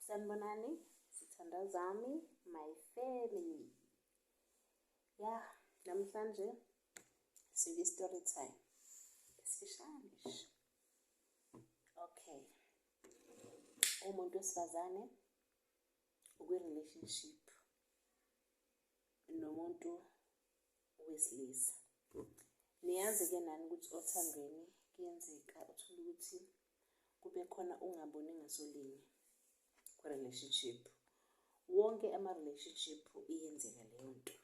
sanibonani sithanda zami my family ya namhlanje sike story time esifishane okay umuntu wesifazane ukwi-relationship nomuntu wesilisa niyazi-ke nani ukuthi othandweni kuyenzeka uthole ukuthi kube khona ungaboni ngasolinye kwi-relationship wonke ama-relationship iyenzeka leyo nto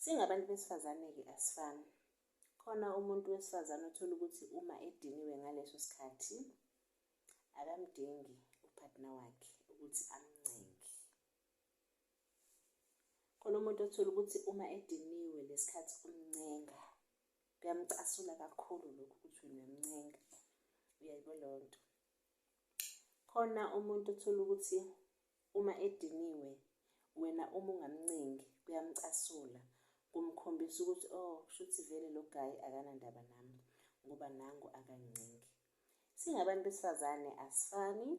singabantu besifazane-ke asifani khona umuntu wesifazane othola ukuthi uma ediniwe ngaleso sikhathi akamdingi uphathina wakhe ukuthi amncenge khona umuntu othola ukuthi uma ediniwe lesikhathi umncenga kuyamcasula kakhulu lokhu ukuthi wena mncenga uyayibo leyo nto khona umuntu uthola ukuthi uma ediniwe wena uma ungamncengi kuyamcasula kumkhombisa ukuthi oh kushuthi vele lo guy akanandaba nami ngoba nangu akangincengi singabantu besifazane asifani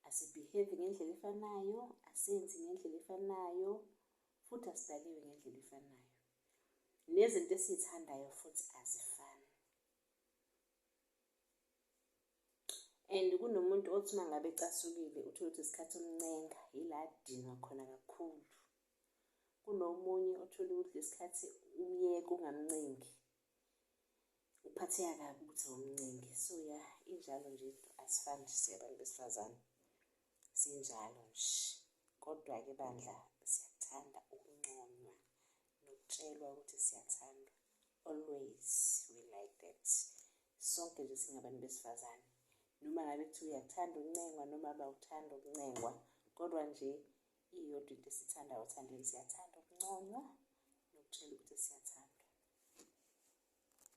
asibehave ngendlela efanayo asenzi ngendlela efanayo futhi asidaliwe ngendlela efanayo nezinto esizithandayo futhi azifani and kunomuntu othi uma ngabe ecasukile uthole ukuthi isikhathi umncenga yila adinwa khona kakhulu kunomunye othole ukuthi lesikhathi umyeka ungamncengi uphatheka kabi ukuthi awumncengi so ya injalo nje asifani nje siyabantu besifazane sinjalo nje kodwa-ke bandla siyakuthanda ukunconywa nokutshelwa ukuthi siyathandwa always we like that sonke nje singabantu besifazane noma ngabe kuthiwa uyakuthanda ukuncengwa noma abawuthanda ukuncengwa kodwa nje iyodwa into esithandayo othandweni siyathanda ukunconywa nokutshela ukuthi siyathandwa